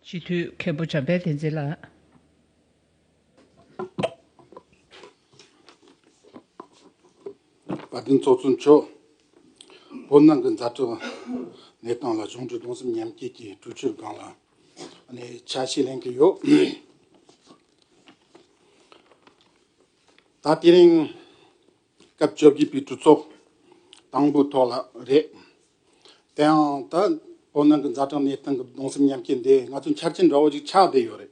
སྤྱི་འཐུས་མཁན་པོ་འཇམ་དཔལ་བསྟན་འཛིན་ལགས། བཀའ་དྲིན་ཚོགས་གཙོ་མཆོག། བོད་ནང་གི་མཛའ་གྲོགས་གནས་སྟངས་ལ་གཞུང་འབྲེལ་གདུང་སེམས་མཉམ་སྐྱེད་ཀྱི་གྲོས་ཆོད་སྒང་ལ་ཆ་ཤས་ལེན་གྱི་ཡོད། ད་དེ་རིང་སྐབས་བཅོ་བརྒྱད་པའི་གྲུ་ཚོགས་དང་པོའི་ཐོག་ལ་རེད། དེའང་ད་བོད་ནང་གི་མཛའ་གྲོགས་གནས་སྟངས་ཀྱི་གདུང་སེམས་མཉམ་སྐྱེད་འདི་ང་ཚོའི་འཆར་ཅན་འདྲ་བོ་ཞིག་ཆགས་བསྡད་ཡོད་རེད།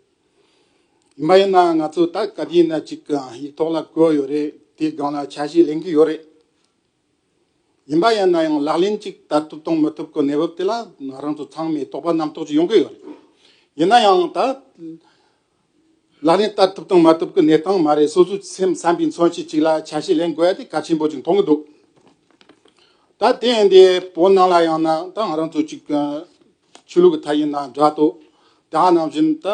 ཡིན་པ་ཡིན་ནའང་ང་ཚོས་ད་ག་དུས་ན་ཅིག་ཡིག་ཐོག་ལ་བཀོད་ཡོད་རེད་དེའི་སྒང་ལ་ཆ་ཤས་ལེན་གྱི་ཡོད་རེད། ཡིན་པ་ཡིན་ན་ཡང་ལག་ལེན་ཅིག་བསྟར་ཐུབ་དང་མི་ཐུབ་ཀྱི་གནས་བབ་དེ་ལ་རང་ཚོ་ཚང་མས་དོགས་པ་རྣམ་རྟོག་ཅིག་ཡོང་གི་ཡོད་རེད། ཡིན་ན་ཡང་ད། ལག་ལེན་བསྟར་ཐུབ་དང་མ་ཐུབ་ཀྱི་གནས་སྟངས་མ་རེད་སོ་སོའི་སེམས་བསམ་པའི་མཚོན་བྱེད་ཅིག་ལ་ཆ་ཤས་ལེན་དགོས་ཏེ་གལ་ཆེན་པོ་ཅིག་མཐོང་གི་འདུག་ད་ལྟའི་འདི་བོད་ནང་ལ་ཡང་ན་ད་ང་རང་ཚོ་གཅིག་ཆོས་ལུགས་ཀྱི་ཐད་ཡིན་ན་འདྲ་ལྟོས་དེ་ག་ནང་བཞིན་ད་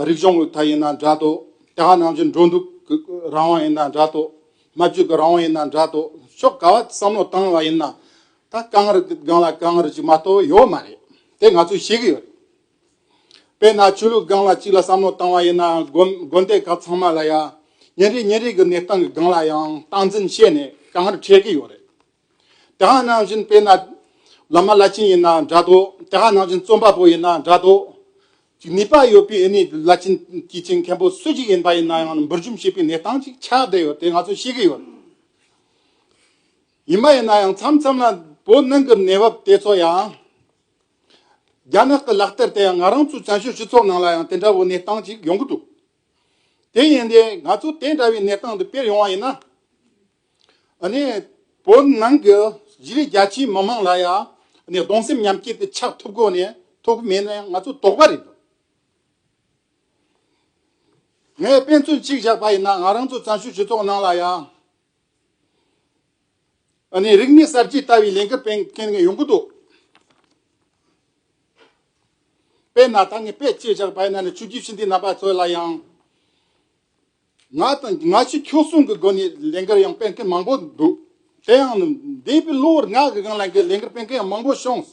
རིག་གཞུང་གི་ཐད་ཡིན་ན་འདྲ་ལྟོས་དེ་ག་ནང་བཞིན་འགྲོ་འདུག་གི་རང་དབང་ཡིན་ན་འདྲ་ལྟོས་སྨྲ་བརྗོད་ཀྱི་རང་དབང་ཡིན་ན་འདྲ་ལྟོས་ཕྱོགས་ག་བ་བསམ་བློ་བཏང་བ་ཡིན་ན་ད་དཀའ་ངལ་སྒང་ལ་དཀའ་ངལ་ཅིག་མ་གཏོགས་ཡོད་མ་རེད་དེ་ང་ཚོས་ཤེས་ཀྱི་ཡོད་རེད། དཔེར་ན་ཆོས་ལུགས་སྒང་ལ་གཅིག་ལ་བསམ་བློ་བཏང་བ་ཡིན་ན་དགོན་སྡེ་ཁག་ཚང་མ་ལ་ཡང་ཉིན་རེ་ཉིན་རེ་གི་གནས་སྟངས་ཀྱི་སྒང་ལ་ཡང་སྟངས་འཛིན་བྱས་ནས་གང་ལྟར་འཕྲད་ཀྱི་ཡོད་རེད། དེ་འང་ནང་བཞིན་དཔེར་ན་བླ་མ་བླ་ཆེན་ཡིན་ན་འདྲ་དོ་དེ་འང་ནང་བཞིན་རྩོམ་པ་པོ་ཡིན་ན་འདྲ་དོ། ཅིག་ནུས་པ་ཡོད་པའི་ཨེ་ནས་བླ་ཆེན་སྐྱེས་ཆེན་མཁན་པོ་སུ་ཞིག་ཡིན་པ་ཡིན་ན་ཡང་འབུར་འཇོམས་བྱེད་པའི་གནས་སྟངས་ཅིག་ཆགས་བསྡད་ཡོད་དེ་ང་ཚོས་ཤེས་ཀྱི་ཡོད་རེད། ཡིན་པ་ཡིན་ན་ཡང་མཚམས་མཚམས་ལ་བོད་ནང་གི་གནས་བབ་དེ་ཚོ་ཡང། རྒྱ་ནག་གི་ལག་རྟེར་དེ་ཡང་ང་རང་ཚོའི་བཙན་བྱོལ་སྤྱི་ཚོགས་ནང་ལ་ཡང་དེ་འདྲ་བོའི་གནས་སྟངས་ཅིག་ཡོང་གི་འདུག་དེ་ཡིན་དུས་ང་ཚོ་དེ་འདྲ་བའི་གནས་སྟངས་འདི་སྤེལ་ཡོང་བ་ཡིན་ན། བོད་ནང་གི་གཞིས་ལུས་རྒྱ་ཆེའི་མི་དམངས་ལ་ཡང་གདུང་སེམས་མཉམ་སྐྱེད་དེ་ཆགས་ཐུབ་གོ་ནས་ཐུབ་ཀྱི་མེད་ནའི་ང་ཚོ་དོགས་པ་རེད་འདུག་ངས་དཔེ་མཚོན་གཅིག་བཞག་པ་ཡིན་ན་ང་རང་ཚོའི་བཙན་བྱོལ་སྤྱི་ཚོགས་ནང་ལ་ཡང། ཨ་ནི་རིག་གནས་གསར་བརྗེའི་ལྟ་བའི་ལས་འགུལ་སྤེལ་མཁན་ཡོང་གི་འདུག་དཔེར་ན་ད་ངས་པད་སྐྱིད་བཞག་པའི་ནང་ནས་ཆུ་རྒྱུས་ཕྱི་འདིའི་རྣམ་པ་ཚོ་ལ་ཡང་ང་དང་ང་ཕྱི་ཁྱོད་གསུམ་གྱི་སྒོ་ནས་ལས་འགུལ་ཡང་སྤེལ་མཁན་མང་པོ་འདུག་དེ་ཡང་འདས་པའི་ལོ་ལྔ་གི་རིང་ལ་ལས་འགུལ་སྤེལ་མཁན་ཡང་མང་པོ་བྱུང།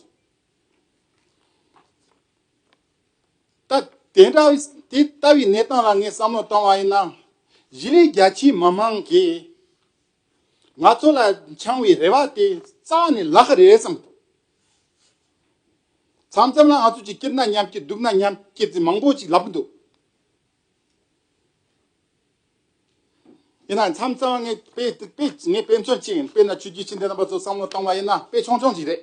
ད། དེ་འདྲ་དེ་ལྟ་བུའི་གནས་སྟངས་ལ་ངས་བསམ་བློ་བཏང་བ་ཡིན་ན། གཞི་ལས་རྒྱ་ཆེའི་མི་མང་གིས་ང་ཚོ་ལ་འཆང་བའི་རེ་བ་དེ་རྩ་བ་ནས་ལག་རེ་བསམ་ཐུབ། མཚམས་མཚམས་ལ་ང་ཚོ་ཅིག་སྐྱིད་ན་མཉམ་སྐྱིད་སྡུག་ན་མཉམ་སྐྱིད་ཅེས་མང་པོ་ཅིག་ལབ་འདུག་ཡིན་ནའང་མཚམས་མཚམས་ལ་ངས་དཔེ་དཔེ་ངས་དཔེ་མཚོན་ཅིག་དཔེར་ན་ཆོས་རྒྱུད་ཕྱི་འབྲེལ་རྣམ་པ་ཚོར་བསམ་བློ་བཏང་བ་ཡིན་ན་དཔེ་ཆུང་ཆུང་ཅིག་རེད།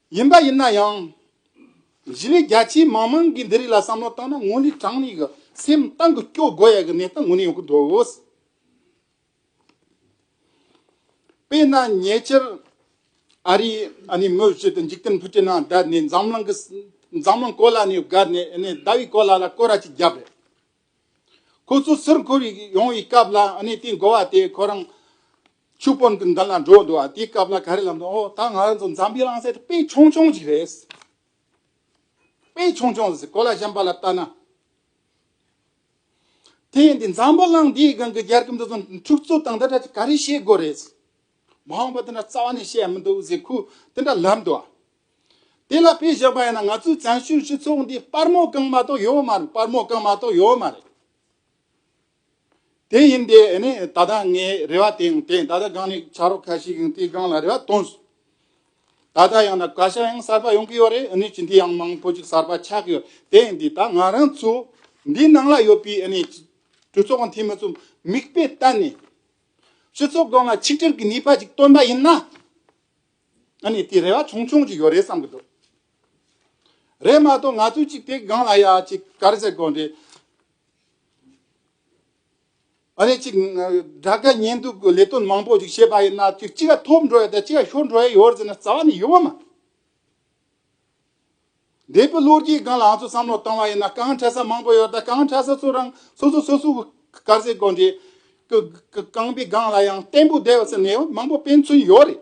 ཡིན་པ་ཡིན་ན་ཡང། གཞི་ནས་རྒྱ་ཆེའི་མང་མང་གིས་འདི་རིགས་ལ་བསམ་བློ་བཏང་ན་དངོས་ལུས་གྲངས་ཉིས་ཀྱི་སེམས་གཏམ་གྱི་སྐྱོ་དགོས་ཡག་གི་གནས་སྟངས་ངོས་ནས་ཡོང་གི་འདུག་དཔེར་ན་ཉེ་ཆར་ཨ་རི་ཨ་ནི་མོ་བཞི་དང་འཇིག་རྟེན་བུ་སྤྲེལ་ནང་བསྡད་ནས་འཛམ་གླིང་གི་འཛམ་གླིང་གོ་ལ་ནས་བསྒར་ནས་ཨ་ནི་ཟླ་བའི་གོ་ལ་ལ་སྐོར་ར་ཅིག་བརྒྱབ་པས། ཁོ་ཚོ་ཟུར་འཁོར་བའི་ཡོང་བའི་སྐབས་ལ་ཨ་ནི་དེའི་འགོ་བ་དེས་ཁོ་རང་ཆུ་དཔོན་གྱི་མདུན་ལ་འགྲོ་འདོད་ཨ་དེའི་སྐབས་ལ་ག་རེ་ལབ་འདུག་ཨོ་ད་ང་རང་ཚོ་འཛམ་བུའི་རང་སའི་དཔེ་ཆུང་ཆུང་ཞིག་རེད། དཔེ་ཆུང་ཆུང་ཟེར་གོ་ལ་གཞན་པ་ལ་བལྟ་ན། དེ་ཡིན་དུས་འཛམ་བུ་གླིང་འདིའི་སྒང་གི་རྒྱལ་ཁབ་འདི་ཚོ་འཁྲུག་རྩོད་དང་འདི་འདྲ་དེ་ག་རེ་བྱེད་དགོས་རེད། མ་འོངས་པ་དེ་འདྲ་རྩ་བ་ནས་བཤད་མི་འདུག་ཟེར་ཁུལ་དེ་འདྲ་ལབ་འདུག་ཨ། དེ་ལ་དཔེ་བཞག་པ་ཡིན་ན་ང་ཚོའི་བཙན་བྱོལ་སྤྱི་ཚོགས་འདི་སྤར་མོ་བཀང་མ་གཏོགས་ཡོད་མ་རེད་སྤར་མོ་བཀང་མ་གཏོགས་ཡོད་མ་རེད། དེ་ཡིན་ཏེ་ནི་ད་ལྟ་ངའི་རེ་བ་དེའང་དེ་ད་ལྟ་སྒང་ནས་ཕྱག་རོགས་ཁ་ཤས་ཀྱང་དེའི་སྒང་ལ་རེ་བ་བཏོན་སོང། ད་ལྟ་ཡང་ན་བཀའ་ཤག་ཡང་གསར་པ་ཡོང་གི་ཡོད་རེད་ནི་སྤྱི་འཐུས་ཡང་མང་པོ་ཅིག་གསར་པ་ཆགས་ཀྱི་ཡོད་དེ་ཡིན་ཏེ་ད་ང་རང་ཚོ་འདིའི་ནང་ལ་ཡོད་པའི་ནི་གྲོས་ཚོགས་ཁང་འཐུས་མི་ཚོ་མིག་དཔེ་ལྟ་ནས་སྤྱི་ཚོགས་སྒང་ལ་ཆིག་སྒྲིལ་གྱི་ནུས་པ་ཅིག་བཏོན་པ་ཡིན་ན་ནི་དེ་རེ་བ་ཆུང་ཆུང་ཅིག་ཡོད་རེད་བསམ་གྱི་འདུག་རེད་མ་གཏོགས་ང་ཚོས་ཅིག་དེའི་སྒང་ལ་ཡ་ཅིག་ག་རེ་བྱེད་དགོས་རེད། ཨ་རེ་ཅིག། དགྲ་དགའ་གཉེན་སྡུག་གི་ལས་དོན་མང་པོ་ཞིག་བྱས་པ་ཡིན་ན་ཅིག་ཅིག་ག་ཐོབ་འགྲོ་ཡ་དང་ཅིག་ག་ཤོར་འགྲོ་ཡ་ཡོད་ཟེར་ན་རྩ་བ་ནས་ཡོད་པ་མ་རེད། འདས་པའི་ལོ་རྒྱུས་སྒང་ལ་ང་ཚོས་བསམ་བློ་བཏང་བ་ཡིན་ན་རྐང་འཁྲ་ས་མང་པོ་ཡོད་ད་རྐང་འཁྲ་ས་ཚོ་རང་སོ་སོ་སོ་སོའི་དཀར་ཟས་གོན་འདྲེ། རྐང་པའི་སྒང་ལ་ཡང་བརྟན་པོ་བསྡད་ཡོད་ཟེར་ནས་མང་པོ་སྤེན་ཚུན་ཡོད་རེད།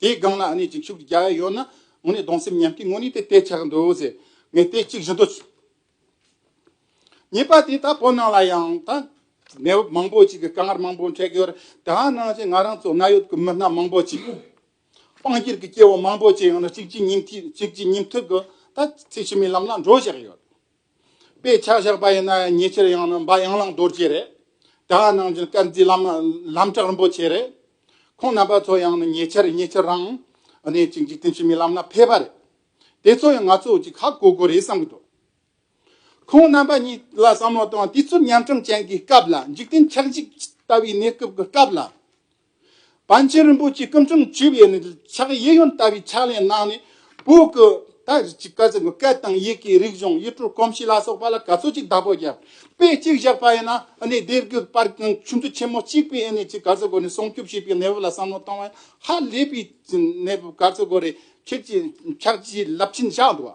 དེའི་སྒང་ན་ཨ་ནེ་འཇིགས་ཞུགས་ཀྱི་རྒྱ་ཡ་ཡོད་ན་ངོ་ནི་གདོང་སེམས་ཉམས་ཀྱི་ངོ་ནི་དེ་ལྟས་ཆགས་འདུག་ཟེར་ངས་ལྟས་གཅིག་བཞིན་དུ། ཉེས་པ་དེ་ད་བོད་ནང་ལ་ཡང་ད་གནས་བབ་མང་པོ་ཅིག་གི་དཀའ་ངར་མང་པོ་འཕྲད་ཀྱི་ཡོད་རེད་དེའང་ནང་བཞིན་ང་རང་ཚོ་གནའ་ཡོད་ཀྱི་མི་སྣ་མང་པོ་ཅིག་དཔང་སྒྱུར་གྱི་སྐྱེ་བོ་མང་པོ་ཅིག་ཡང་ན་གཅིག་གཅིག་ཉིན་གཅིག་གཅིག་ཉིན་ཐུག་གི་ད་ཚེ་ཕྱི་མའི་ལམ་ལ་འགྲོ་བཞག་ཡོད། དཔེ་ཆ་བཞག་པ་ཡིན་ན་ཉེ་ཆར་ཡང་ན་འབའ་ཡང་ལང་རྡོ་རྗེ་རེད། དེ་འང་ནང་བཞིན་སྐར་རྩིས་ལམ་གྲགས་རིན་པོ་ཆེ་རེད། ཁོང་རྣམ་པ་ཚོ་ཡང་ན་ཉེ་ཆར་ཉེ་ཆར་རང་གནས་ཀྱི་འཇིག་རྟེན་ཕྱི་མའི་ལམ་ན་ཕེབས་པ་རེད། དེ་ཚོ་ཡང་ང་ཚོ་གཅིག་ཧ་གོ་གོ་རེད་བསམ་གྱི་འདུག་ཁོང་རྣམ་པ་གཉིས་ལ་བསམ་བློ་བཏང་དུས་ཚོད་ཉམ་ཆུང་ཅན་གྱི་སྐབས་ལ་འཇིག་རྟེན་ཆགས་འཇིག་ལྟ་བུའི་གནས་སྐབས་ཀྱི་སྐབས་ལ། པཎ་ཆེན་རིན་པོ་ཆེས་སྐུ་མཚམས་བཅུ་པའི་ནི་ཕྱག་གཡས་གཡོན་བལྟ་བའི་ཕྱག་ལེན་གནང་ནས་བོད་ཀྱི་ད་རེས་ཀྱི་བཀའ་ཟུར་བཀའ་དང་ཡི་གེའི་རིགས་གཞུང་ཡིག་འབྲུ་གོམས་གཤིས་ལ་སོགས་པ་ལ་ག་ཚོད་ཅིག་བདག་པོ་བརྒྱབ། དཔེ་གཅིག་བཞག་པ་ཡིན་ན་ནི་སྡེ་དགེ་པར་གྱི་ཆུ་མཛོད་ཆེན་མོ་གཅིག་པའི་ནི་ཀྱི་ག་ཚོད་སྒོ་ནས་སྲུང་སྐྱོབ་བྱེད་པའི་གནས་བབ་ལ་བསམ་བློ་གཏོང་བ་ཡང་ཧ་ལས་པའི་གནས་བབ་ག་ཚོད་སྒོ་རེད་ཁྱེད་ཀྱིས་ཕྱག་བཞིའི་རླབས་ཆེན་བཞག་འདུག་བ།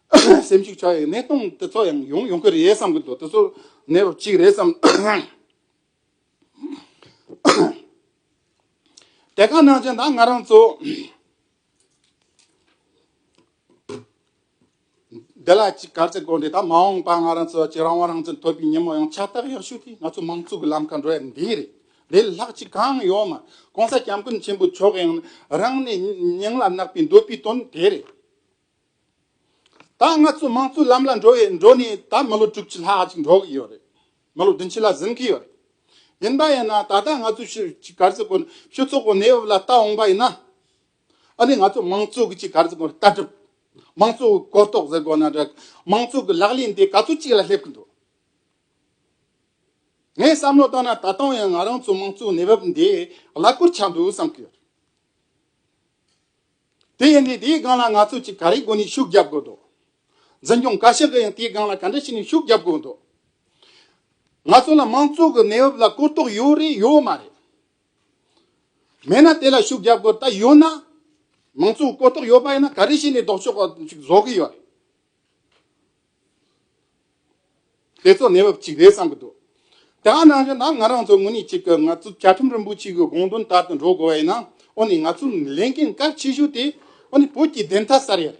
སེམས་གཅིག་ཆགས་ཡོད་གནས་སྟངས་དེ་ཚོ་ཡང་ཡོང་ཡོང་གི་རེད་བསམ་གྱི་འདུག་དེ་ཚོ་གནས་བབ་གཅིག་རེད་བསམ། དེ་ག་ནང་བཞིན་ད་ང་རང་ཚོ་འདི་ལ་གཅིག་གར་ཚེ་དགོས་འདི་ད་མ་འོངས་པ་ང་རང་ཚོ་གཅིག་རང་དབང་རང་བཙན་ཐོབ་པའི་ཉིན་མོ་ཡང་ཕྱག་རྟགས་ཡག་ཤོས་དེ་ང་ཚོ་མང་གཙོ་གི་ལམ་ཁ་འགྲོ་ཡ་འདི་རེད་འདི་ལ་ལྷག་ཅིག་གང་ཡོད་མ་གོང་ས་སྐྱབས་མགོན་ཆེན་པོ་མཆོག་གིས་རང་ནས་སྙིང་ལ་བརྣག་པའི་འདོད་པའི་དོན་དེ་རེད། ད་ང་ཚོའི་དམངས་གཙོའི་ལམ་ལ་འགྲོ་བའི་འགྲོ་ནས་ད་མི་ལོ་དྲུག་ཅུ་ལྷག་ཅིག་འགྲོ་གི་ཡོད་རེད། མི་ལོ་བདུན་ཅུ་ལ་ཟིན་གི་ཡོད་རེད། ཡིན་པ་ཡིན་ན་ད་ལྟ་ང་ཚོའི་ཕྱི་གི་གར་རྩེད་སྐོར་ཕྱི་ཚོགས་པའི་གནས་བབ་ལ་ལྟ་འོངས་པ་ཡིན་ན། ཨ་ནི་ང་ཚོའི་དམངས་གཙོའི་གི་ཕྱི་གར་རྩེད་སྐོར་ལྟ་གྲུབ། དམངས་གཙོའི་གོ་རྟོགས་ཟེར་དགོས་ན་འདྲ། དམངས་གཙོའི་གི་ལག་ལེན་དེ་ག་ཚོད་ཅིག་ལ་སླེབས་གི་འདུག། ངས་བསམ་བློ་བཏང་ན་ད་དུང་ཡང་ང་རང་ཚོའི་དམངས་གཙོའི་གནས་བབ་འདི་གླ་འཁོར་ཆགས་འདུག་བསམ་གི་ཡོད་རེད། དེ་ཡིན་ནའི་དེའི་སྒང་ལ་ང་ཚོས་ཅིག་ག་རེའི་སྒོ་ནས་ཤུགས་རྒྱབ་དགོས་འདུག་འཛིན་སྐྱོང་བཀའ་ཤག་གིས་ཡང་དེའི་སྒང་ལ་ག་འདྲ་བྱས་ནས་ཤུགས་རྒྱབ་དགོས་འདུག་ང་ཚོ་ལ་མང་གཙོ་གི་གནས་བབ་ལ་གོ་རྟོགས་ཡོད་རེད་ཡོད་མ་རེད། མེད་ན་དེ་ལ་ཤུགས་རྒྱབ་དགོས་ད་ཡོད་ན། མང་གཙོ་གོ་རྟོགས་ཡོད་པ་ཡིན་ན་ག་རེ་བྱས་ནས་ལྡོག་ཕྱོགས་པ་ཞིག་བཟོ་གི་ཡོད་རེད། དེ་ཚོ་གནས་བབ་ཅིག་རེད་བསམ་གྱི་འདུག་དེའང་ནང་བཞིན་ན་ང་རང་ཚོ་དངོས་གནས་གཅིག་གི་ང་ཚོ་བཅའ་ཁྲིམས་རིན་པོ་ཆེ་གི་དགོངས་དོན་ལྟར་དུ་འགྲོ་དགོས་པ་ཡིན་ན་འོ་ནི་ང་ཚོ་ལས་འགན་གལ་ཆེ་ཤོས་དེ་འོ་ནི་བོད་ཀྱི་བདེན་མཐའ་གསར་ཡ་རེད།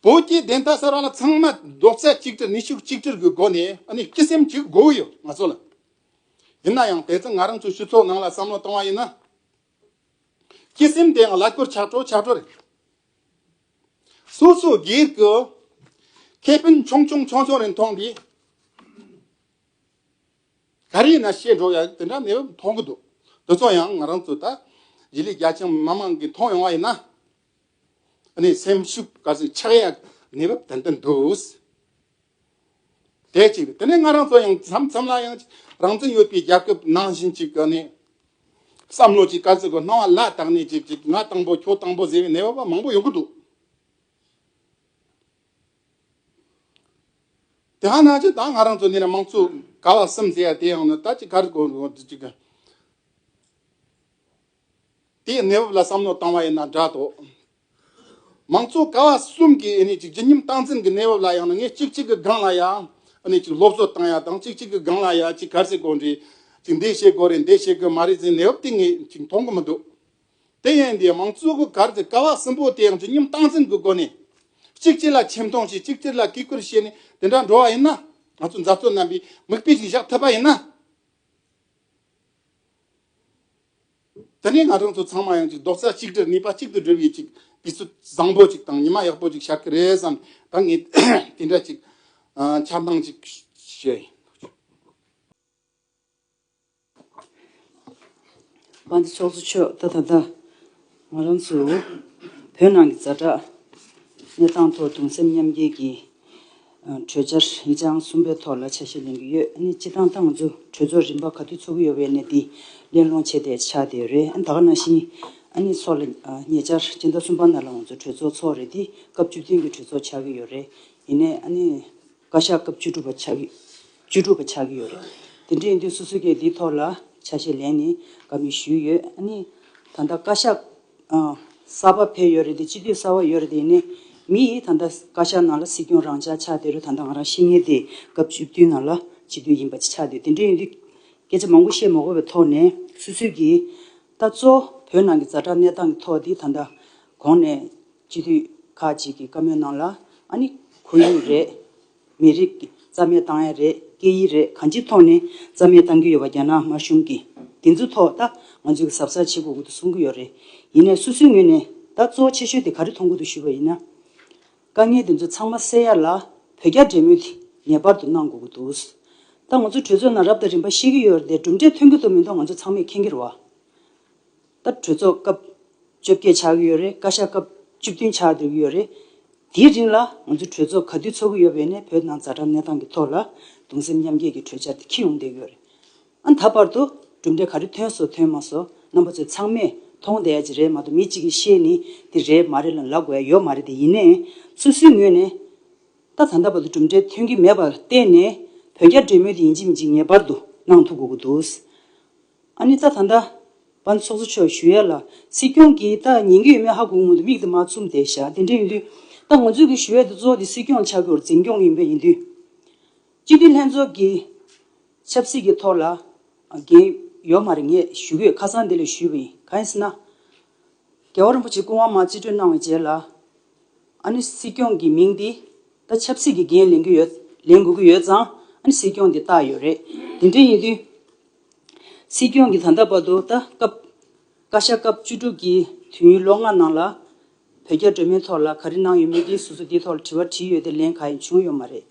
བོད་ཀྱི་བདེན་མཐའ་གསར་བ་ལ་ཚང་མ་རྡོག་རྩ་གཅིག་སྒྲིལ་ནུས་ཤུགས་གཅིག་སྒྲིལ་གྱི་སྒོ་ནས་འོ་ནི་སྤྱི་སེམས་གཅིག་དགོས་ཡོད་ང་ཚོ་ལ། ཡིན་ན་ཡང་དེ་ཚོ་ང་རང་ཚོའི་སྤྱི་ཚོགས་ནང་ལ་བསམ་བློ་བཏང་བ་ཡིན་ན། ཀྱི་སེམས་དེའང་ལ་སྐུར་ཆགས་སྤྲོ་ཆགས་སྤྲོ་རེད། སོ་སོའི་སྒེར་གྱི་ཁེ་ཕན་ཆུང་ཆུང་ཆུང་ཆུང་རེ་མཐོང་དུས། ག་རེ་ཡིན་ན་ཤེས་འགྲོ་ཡ་དེ་འདྲ་མེད་པ་མཐོང་གི་འདུག་དེ་ཚོ་ཡང་ང་རང་ཚོ་ད་རྗེས་ལས་རྒྱ་ཆེན་མི་མང་གིས་མཐོང་ཡོང་བ་ཡིན་ན། ནས་སེམས་ཤུགས་ག་ཚོད་ཆགས་ཡ་ནས་བབ་ཏན་ཏན་འདུག། བྱེད་ཅིག་དེ་ནས་ང་རང་ཚོ་ཡང་མཚམས་མཚམས་ལ་ཡང་རང་བཙན་ཡོད་པའི་རྒྱལ་ཁབ་ནང་བཞིན་ཅིག་གི་ནས་བསམ་བློ་ཅིག་དཀར་ཟིལ་གྱི་སྣང་བ་བླ་དྭགས་ནས་ཅིག་ཅིག་ང་དང་པོ་ཁྱོད་དང་པོ་ཟེར་བའི་ནད་པ་པ་མང་པོ་ཡོང་གི་འདུག་དེ་ཧ་ན་ཅིག་ད་ང་རང་ཚོ་ནས་དམངས་གཙོ་ག་བ་གསུམ་ཟེར་ཡ་དེ་ཡང་ན་ད་ཅིག་ག་རེ་གོ་ཅིག་གི། དེའི་གནས་བབ་ལ་བསམ་བློ་བཏང་བ་ཡིན་ན་འདྲ་དོ། མང་གཙོ་ཀ་བ་གསུམ་གྱི་ཨེ་ནས་ཅིག་ཇི་སྙིམ་སྟངས་འཛིན་གྱི་གནས་བབ་ལ་ཡང་ན་ངས་ཅིག་ཅིག་གི་སྒང་ལ་ཡ་ཨེ་ནས་ཅིག་སློབ་གསོ་བཏང་ཡ་དང་ཅིག་ཅིག་གི་སྒང་ལ་ཡ་ཅིག་གར་སེ་གོ་འདྲི་ཅིག་འདི་བྱེད་དགོས་རེད་འདི་བྱེད་དགོས་མ་རེད་ཟེར་གནས་བབ་དེ་ངས་ཅིག་མཐོང་གི་མི་འདུག་དེ་ཡན་དེ་མང་གཙོ་གི་གར་དེ་ཀ་བ་གསུམ་པོ་དེ་ཡང་ཇི་སྙིམ་སྟངས་འཛིན་གྱི་སྒོ་ནས་ཅིག་ཅིག་ལ་ཆེ་མཐོང་བྱས་ཅིག་ཅིག་ལ་བཀས་བཀུར་བྱས་ནས་དེ་འདྲ་འགྲོ་བ་ཡིན་ན་ང་ཚོ་མཛའ་གཙོ་རྣམ་པས་མིག་དཔེ་ཞིག་བཞག་ཐུབ་པ་ཡིན་ན། དེ་ནས་ང་རང་ཚོ་ཚང་མ་ཡང་ཅིག་རྡོག་རྩ་གཅིག་སྒྲིལ་ནུས་པ་གཅིག་ཏུ་བསྒྲིལ་ཡོད་ཅིག་དུས་ཚོད་བཟང་པོ་ཅིག་དང་ཉི་མ་ཡག་པོ་ཅིག་ཤར་གི་རེད་བསམ་ད་ངས་དེ་འདྲ་ཅིག་འཆར་སྣང་ཅིག་བྱས། བ་འདི་ཕྱོགས་སུ་ཆོད་ད་ད་ད། ང་རང་ཚོ་བོད་ནང་གི་རྫ་དྲག་གནས་སྟངས་ཐོག་གདུང་སེམས་མཉམ་སྐྱེད་ཀྱི་གྲོས་འཆར་ཡིག་ཆ་ཨང་གསུམ་པའི་ཐོག་ལ་ཆ་ཤས་ལེན་གྱི་ཡོད་ཨེ་སྤྱི་བཏང་ཏང་ཙུའུ་གྲོས་ཚོགས་རིམ་པ་ག་དུས་ཚོགས་ཀྱི་ཡོད་པའི་གནས་དེ་གླེང་སློང་བྱས་ཏེ་ཆ་དེ་རེད་ད་ག་ནང་བཞིན་ཨ་ནི་ཚོགས་ལ་ཉེ་ཆར་སྤྱི་ཟླ་གསུམ་པ་ནང་ལ་ང་ཚོ་གྲོས་ཚོགས་ཚོགས་རེད་དེ་སྐབས་བཅུ་བདུན་གྱི་གྲོས་ཚོགས་ཆགས་ཀྱི་ཡོད་རེད་ཡིན་ནའི་ཨ་ནི། བཀའ་ཤག་སྐབས་བཅུ་དྲུག་པ་ཆགས་ཀྱི་བཅུ་དྲུག་པ་ཆགས་ཀྱི་ཡོད་རེད། དེ་འདྲའི་དུས་སུ་སུ་ཀའི་དེའི་ཐོག་ལ་ཆ་ཤས་ལན་ནི་འགའ་མི་ཞུས་ཡོད་ཨ་ནི། ད་ལྟ་བཀའ་ཤག་གསར་པ་ཕེབས་ཡོད་རེད་དེ་སྤྱི་འཐུས་གསར་བ་ཡོད་རེད་དེ་ཡིན་ནའི་མི་ཡིས་ད་ལྟ་བཀའ་ཤག་ནང་ལ་སྲིད་སྐྱོང་རང་ཅག་ཆགས་བསྡད་རུ་ད་ལྟ་ང་རང་ཤི་ངེས་དེ་སྐབས་བཅུ་བདུན་ནང་ལ་སྤྱི་འཐུས་ཡིན་པ་ཆགས་འདུག་དེ་འདྲའི་ཡིན་དུས་སྐད་ཆ་མང་པོ་བཤད་མ་དགོས་པའི་ཐོག་ནས་སུད་སུད་ཀྱིས་ད་གཙོ་བོད་ནང་གི་རྫ་དྲག་གནས་སྟངས་ཀྱི་ཐོག་དེ་ད་ལྟ་གོང་ནས་སྤྱི་འཐུས་ཁག་ཅིག་གིས་བཀའ་མོལ་གནང་ལ། ཨ་ནི་ཁོར་ཡུག་རེད། མི་རིགས་ཀྱི་རྩ་མེད་བཏང་ཡ་རེད་སྐད་ཡིག་རེད་གང་ཅིའི་ཐོག་ནས་རྩ་མེད་བཏང་གི་ཡོད་པ་རྒྱ་ནག་དམར་གཞུང་གིས་དེ་ཚོའི་ཐོག་ད་ང་ཚོས་གཟབ་གཟབ་བྱེད་དགོས་ཀྱི་འདུག་གསུང་གི་ཡོད་རེད། ཡིན་ནས་སོ་སོའི་ངོས་ནས་ད་གཙོ་བོ་ཆེ་ཤོས་དེ་ག་རེ་མཐོང་གི་འདུག་ཞུས་པ་ཡིན་ན། དཀའ་ངལ་དེ་ཚོ་ཚང་མ་སེལ་ཡ་ལ་བོད་རྒྱ་འབྲེལ་མོལ་དེ་ངེས་པར་དུ་གནང་དགོས་ཀྱི་འདུག་ད་ང་ཚོ་གྲོས་ཚོགས་ནང་རབ་དང་རིམ་པ་ཤེས་ཀྱི་ཡོད་རེད་གྲུབ་འབྲས་ཐོན་གྱི་འདུག་མིན་འདུག་ང་ཚོ་ཚང་མས་མཁྱེན་གྱི་རེད། ད་གྲོས་ཚོགས་སྐབས་བཅོ་བརྒྱད་ཆགས་ཀྱི་ཡོད་རེད་བཀའ་ཤག་སྐབས་བཅུ་བདུན་ཆགས་བསྡད་ཀྱི་ཡོད་རེད། དེའི་རིང་ལ་ང་ཚོ་གྲོས་ཚོགས་ག་དུས་ཚོགས་ཀྱི་ཡོད་པའི་ནས་བོད་ནང་རྫ་དྲག་གནས་སྟངས་ཀྱི་ཐོག་ལ་གདུང་སེམས་མཉམ་སྐྱེད་ཀྱི་གྲོས་འཆར་དེ་ཁྱི་ཡོང་བསྡད་ཀྱི་ཡོད་རེད། ཨ་ད་བར་དུ་གྲུབ་འབྲས་ག་རེ་ཐོན་སོ་ཐོན་མ་སོ་རྣམ་པ་ཚོས་ཚང་མས་མཐོང་བསྡད་ཀྱི་རེད་མ་གཏོགས་མི་གཅིག་གིས་ཤེས་ནི་འདི་རེད་མ་རེད་ལ་ལབ་དགོས་ཡ་ཡོད་མ་རེད་དེ་ཡིན་ནའི་སོ་སོའི་ངོས་ནས་ད་ད་ད་བར་དུ་གྲུབ་འབྲས་ཐོན་གྱི་མེད་པར་བརྟེན་ནས་བོད་རྒྱ་འབྲེལ་མོལ་དེ་ཡིན་གཅིག་མི་གཅིག་ངེས་པར་དུ་གནང་ཐུབ་དགོས་ཀྱི་འདུག་ཨ་ནི་རྩྭ་ཐང་འདྲ། བ་ཚོགས་གཙོ་མཆོག་ཞུ་ཡལ་ལ་སྲིད་སྐྱོང་གིས་ད་ཉན་གི་ཡོད་མེད་ཧ་གོ་ངོ་འདུག་མིག་དེ་མ་བཙུམ་དེ་བཞག་དེ་འདྲ་ཡིན་དུས། ད་ངོ་འཛུལ་གི་ཞུ་ཡལ་དུ་གཙོ་བོ་དེ་སྲིད་སྐྱོང་ཆགས་རྒྱུར་འཛིན་སྐྱོང་ཡིན་པ་ཡིན་དུས། སྤྱི་འཐུས་ལྷན་ཚོགས་ཀྱི་ཆབ་སྲིད་ཀྱི་ཐོག་ལ་འགན་ཡོད་མ་རེད་ངས་ཞུ་གོས་ཁ་སང་དེ་ལས་ཞུས་པ་ཡིན་གང་ཡིན་ཟེར་ན། རྒྱལ་བ་རིན་པོ་ཆེ་སྐུ་དབང་མ་རྩིས་སྤྲོད་གནང་བའི་རྗེས་ལ། ཨ་ནི་སྲིད་སྐྱོང་གི་མིང་འདི་ད་ཆབ་སྲིད་ཀྱི་འགན་ལེན་གི་ཡོད་ལེན་དགོས་ཀྱི་ཡོད་ཙང་ཨ་ནི་སྲིད་སྐྱོང་དེ་བཏགས་ཡོད་རེད་དེ་འདྲ་ཡིན་དུས། སྲིད་སྐྱོང་གིས་ད་ལྟ་བར་དུ་ད་སྐབས་བཀའ་ཤག་སྐབས་བཅུ་དྲུག་གི་དུས་ཡུན་ལོ་ལྔ་ནང་ལ། བོད་རྒྱ་འབྲེལ་མོལ་ཐོག་ལ་ག་རེ་གནང་ཡོད་མེད་ཀྱི་སོ་སོ་དེའི་ཐོག་ལ་དྲི་བ་དྲིས་ཡོད་དེ་ལན་ག་ཡང་བྱུང་ཡོད་མ་རེད།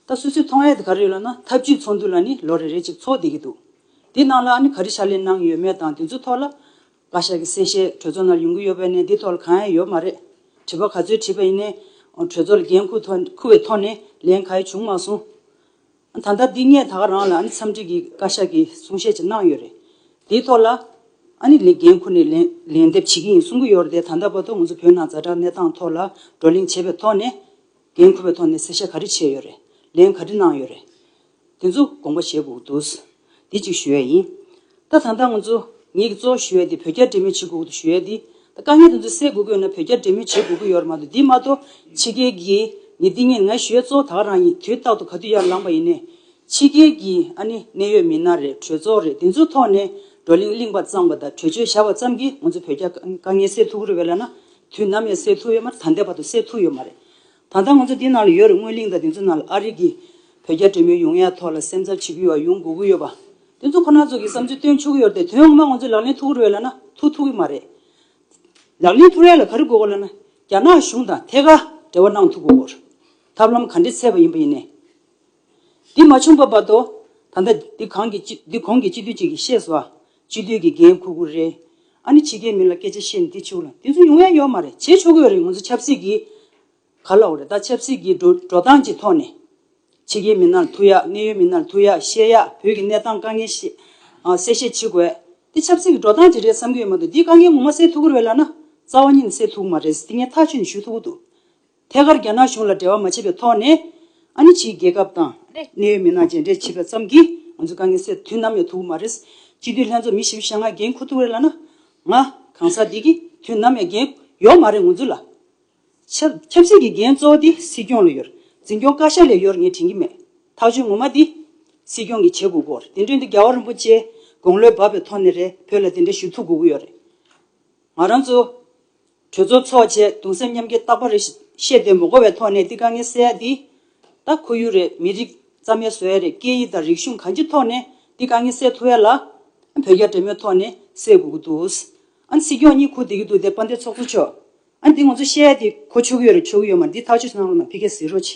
ད་སོ་སོའི་མཐོང་ཡ་དེ་ག་རེ་ཡོད་ལ་ན་ཐབས་ཇུས་ཚོགས་འདུ་ལ་ནི་ལོ་རེ་རེ་ཅིག་ཚོགས་བསྡད་ཀྱི་འདུག་དེ་ནང་ལ་ནི་ག་རེ་ཕྱག་ལས་གནང་ཡོད་མེད་དང་དེ་ཚོའི་ཐོག་ལ། བཀའ་ཤག་གི་གསལ་བཤད་གྲོས་ཚོགས་ནང་ལ་ཡོང་གི་ཡོད་པ་ནས་དེའི་ཐོག་ལ་གང་ཡང་ཡོད་མ་རེད། དྲི་བ་ག་ཚོད་དྲིས་པ་ཡིན་ནའི། གྲོས་ཚོགས་ལ་འགན་ཁུར་བའི་ཐོག་ནས་ལན་ག་ཡང་བྱུང་མ་སོང། ད་ལྟ་འདི་ངས་ད་ག་རང་ལ་འཚམས་འདྲི་གི་བཀའ་ཤག་གི་གསུང་བཤད་ཅིག་གནང་ཡོད་རེད། དེའི་ཐོག་ལ། ལས་འགན་ཁུར་ནས་ལན་འདེབས་བྱེད་ཀྱི་ཡིན་གསུང་གི་ཡོད་རེད་དེ། ད་ལྟ་བར་དུ་ང་ཚོ་བོད་ནང་རྫ་དྲག་གནས་སྟངས་ཐོག་ལ་བགྲོ་གླེང་བྱས་པའི་ཐོག་ནས། འགན་ཁུར་བའི་ཐོག་ནས་གསལ་བཤད་ག་རེ་བྱས་ཡོད་རེད། ལན་ག་རེ་གནང་ཡོད་རེད། དེ་ཚོ་དགོངས་པ་བཞེས་དགོས་ཀྱི་འདུག། དེ་ཅིག་ཞུ་ཡས་ཡིན། ད་ད་ད་ང་ཚོ་ངེད་ཀྱི་གཙོ་བོ་ཞུ་ཡས་དེ་བོད་རྒྱ་འབྲེལ་མོལ་བྱེད་དགོས་ཀྱི་ཞུ་ཡས་དེ་ད་དཀའ་ངལ་དེ་ཚོ་སེལ་དགོས་དགོས་ན་བོད་རྒྱ་འབྲེལ་མོལ་བྱེད་དགོས་ཀྱི་ཡོད་རེད་མ་གཏོགས་དེ་མ་གཏོགས་ཕྱི་རྒྱལ་གྱི་ནི་ཏིང་ངེ་ང་ཞུ་ཡས་གཙོ་བོ་དག་རང་ཡིན་དུས་རྟག་ཏུ་ག་དུས་ཡར་ལངས་པ་ཡིན་ནས། ཕྱི་རྒྱལ་གྱི་ཨ་ནི་གནད་ཡོད་མི་སྣ་རེད་གྲོས་ཚོགས་རེད་དེ་ཚོའི་ཐོག་ནས་བགྲོ་གླེང་གླིང་བ་གཙང་བ་དང་གྲོས་ཆོད་བཞག་པ་ཙམ་གྱིས་ང་ཚོ་བོད་རྒྱ་དཀའ་ངལ་སེལ་ཐུག་གི་རེད་བས་ལ་ན་དུས་ནམ་ཡང་སེལ་ཐུག་ཡོད་མ་རེད་ད་ལྟའི་བར་དུ་སེལ་ཐུག་ཡོད་མ་རེད། ད་ལྟ་ང་ཚོ་འདི་ན་ལ་ཡོད་རེད་སྔོན་གླིང་དང་དེ་ཚོ་ན་ལ་ཨ་རིག་གིས་བོད་རྒྱ་འབྲེལ་མོལ་ཡོང་ཡ་ཐོག་ལ་སེམས་འཚབ་བྱེད་ཀྱི་ཡོད་པ་ཡོང་དགོས་ཀྱི་ཡོད་པ། དེ་ཚོ་ཁོ་ན་ཚོ་གི་བསམ་ཚུལ་བཏོན་ཆོག་གི་ཡོད་རེད་དེ་དོན་ངོ་མ་ང་ཚོས་ལག་ལེན་ཐུགས་རེད་ལ་ན་ཐུགས་ཐུགས་ཀྱི་མ་རེད། ལག་ལེན་ཐུགས་རེད་ལ་ག་རེ་དགོས་གོ་ལ་ན་རྒྱ་ནག་གཞུང་དང་ཐད་ཀར་འབྲེལ་བ་གནང་ཐུགས་དགོས་གོ། ཐབས་ལམ་ག་འདྲེ་ཚད་པ་ཡིན་པ་ཡིན་ནས། འདི་མ་བྱུང་པ་བར་དོ། ད་ལྟ་འདི་གང་གི་འདི་གོང་གི་སྤྱི་འཐུས་གཅིག་གིས་བཤད་སོ། སྤྱི་འཐུས་ཀྱི་འགན་ཁུར་ཁུར་རེད། ཨ་ནི་ཕྱི་རྒྱལ་མི་ལ་སྐད་ཆ་བཤད་ནི་འདི་ཆོག་ལ་དེ་ཚོ་ཡོང་ཡ་ཡོད་མ་རེད་བྱེད་ཆོག་གི་ཡོད་རེད་ང་ཚོ་ཆབ་སྲིད་ཀྱི་ག་ལ་འོ་རེད་ད་ཆབ་སྲིད་ཀྱི་འགྲོ་འགྲོ་སྟངས་ཀྱི་ཐོག་ནས། ཕྱི་རྒྱལ་མི་སྣར་ཐུག་ཡ་གནད་ཡོད་མི་སྣར་ཐུག་ཡ་བཤད་ཡ་བོད་ཀྱི་གནས་སྟངས་དཀའ་ངལ་བཤད་གསལ་བཤད་བྱེད་དགོས་དེ་ཆབ་སྲིད་ཀྱི་འགྲོ་སྟངས་ཀྱི་རེད་བསམ་གྱི་ཡོད་མ་འདུག་འདིའི་དཀའ་ངལ་ངོ་མ་སེལ་ཐུག་གི་རེད་ལ་ན་རྩ་བ་ཉིད་ནས་སེལ་ཐུག་གི་མ་རེད་དེ་ངས་ཐག་ཆོད་ནས་ཞུ་ཐུག་གི་འདུག་ཐད་ཀར་རྒྱ་ནག་གཞུང་ལ་འབྲེལ་བ་མ་བྱས་པའི་ཐོག་ནས། ཨ་ནི་ཕྱིའི་རྒྱལ་ཁབ་དང། གནད་ཡོད་མི་སྣ་མཇལ་འཕྲད་བྱས་པ་ཙམ་གྱིས་ང་ཚོའི་དཀའ་ངལ་སེལ་དུས་ནམ་ཡང་ཐུག་གི་མ་རེད། སྤྱི་འཐུས་ལྷན་ཚོགས་མི་བཞི་བཞི་ཤ་ང་འགན་འཁུར་ཐུག་རེད་ལ་ན། ང། གང་ཟག་དེ་གི་དུས་ནམ་ཡང་འགན་ཡོག་མ་རེད་ངོ་ཚུལ་ལ། ཆབ། ཆབ་སྲིད་ཀྱི་འགན་གཙོ་བོ་དེ་སྲིད་སྐྱོང་ལ་ཡོད། འཛིན་སྐྱོང་བཀའ་ཤག་ལས་ཡོར་ངས་དྲན་གྱི་མེད། ཐག་གཅོད་ངོ་མ་དེ། སྲིད་སྐྱོང་གི་བྱེད་དགོས་གོ་རེད་དེ་འདྲོན་དེ་རྒྱ་བ་རིན་པོ་ཆེ། དགོང་ལོས་བབ་པའི་ཐོག་ནས་རེད་བོད་ལ་དེ་འདྲ་ཞུ་ཐུག་དགོས་གི་ཡོ་རེད། ང་རང་ཚོ། གྲོས་ཚོགས་འཚོགས་བྱས་གདུང་སེམས་མཉམ་སྐྱེ་རྟག་པ་རེ་བཤད་དེ་མོ་གོ་བའི་ཐོག་ནས་འདི་དཀའ་ངལ་བསལ་ཡ་འདི་ད་ཁོ་ཡུ་རེད་མི་རིགས་རྩ་མེད་བཟོ་ཡ་རེད་སྐད་ཡིག་དང་རིག་གཞུང་གང་ཅི་ཐོག་ནས་འདི་དཀའ་ངལ་བསལ་ཐུབ་ཡ་ལ་བོད་རྒྱ་འབྲེལ་མོལ་ཐོག་ནས་བསལ་དགོས་གི་འདུག་ཨ་སྲིད་སྐྱོང་གཉིས་ཁུག་དེ་གི་འདུག་དེ་དཔའ་འདེགས་ཚོགས་གཙོ་མཆོག་ཨ་འདི་ང་ཚོ་བཤད་ཡ་འདི་ཁོ་ཆོ་གི་ཡོད་རེད་ཆོ་གི་ཡོད་མ་འདི་ཐག་ཆོད་སུ་གནང་རོགས་གནང་ཕི་ཁེ་ཟིག་རོ་ཆེ།